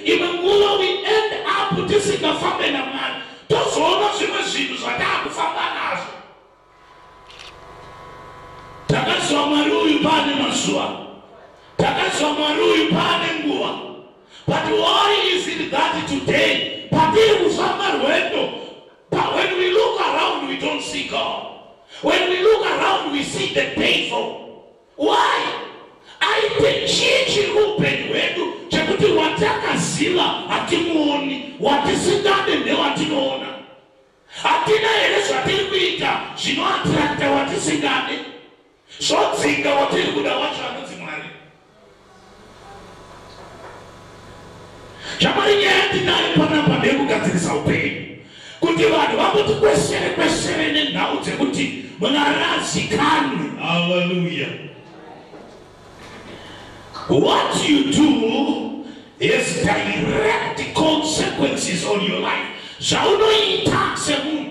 imwe nguva we end up tisingafambe namwari tozoona zvimwe zvinhu zvataakufamba nazvo takaziva mwari uyu paane mazuva takaziva mwari uyu paane nguva but why is it that today patiri kufamba rwendo but when we look around we don't see god when we look around we see the devil Why? Aite chii chiri muupenyu hwedu chekuti watakaziva hatimuoni, watisingade ndewatinoona? Hatina here zvatiri kuita zvinoatirakita watisingade, zvodzinga watiri kuda wacho anonzi Mwari? shamwari nyaya yatinayo panapa ndeyekugadzirisa upenyu kuti vanhu vangoti kwesere kwesere nenhau dzekuti mwari azikanwe haleluya what you do is direct consequences on your life zvaunoita semunhu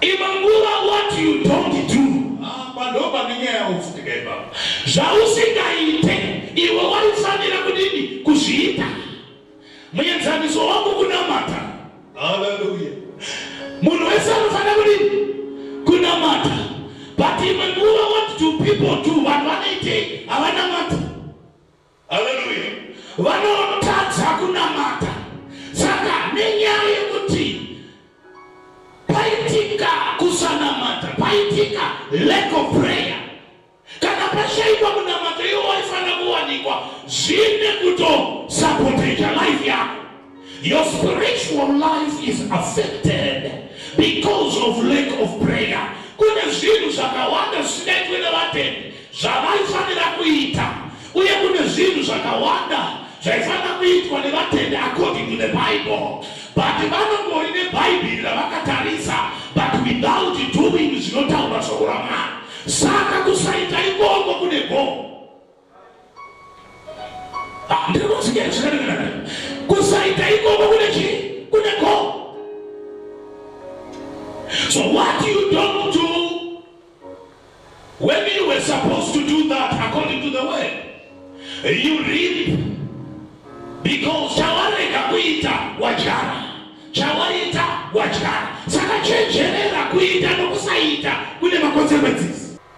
Imwe nguva what you don't do pandopa nenyaya yausindika ipapo zvausingaite iwe waifanira kudini kuzviita muenzaniso wangu kunamata haleluya munhu wese anofanira kudini kunamata but imwe nguva what do people do vanhu vanoitei havanamata Haleluya. Vanotadza kunamata. Saka nenyaya yekuti paitika kusanamata, paitika lack of prayer. Kana pashaikwa kunamata iwo waifanira kuwanikwa zvine kutosapoteja life yako. Your spiritual life is affected because of lack of prayer. Kune zvinhu zvakawanda zvisingaitwe nevatendi zvavaifanira kuita uye kune zvinhu zvakawanda zvaifanira kuitwa nevatendi according to the Bible but vanongori nebhaibheri ravakatarisa but without doing zvinotaura shoko ramwari saka kusaita ikoko kune gomo Ah, ndiri kutsigira zvinanana kusaita ikoko kune chii kune go so what you don't do when you were supposed to do that according to the word you reap because chawarega kuita wadyara chawaita wadyara saka chenjerera kuita nokusaita kune makonsekwensis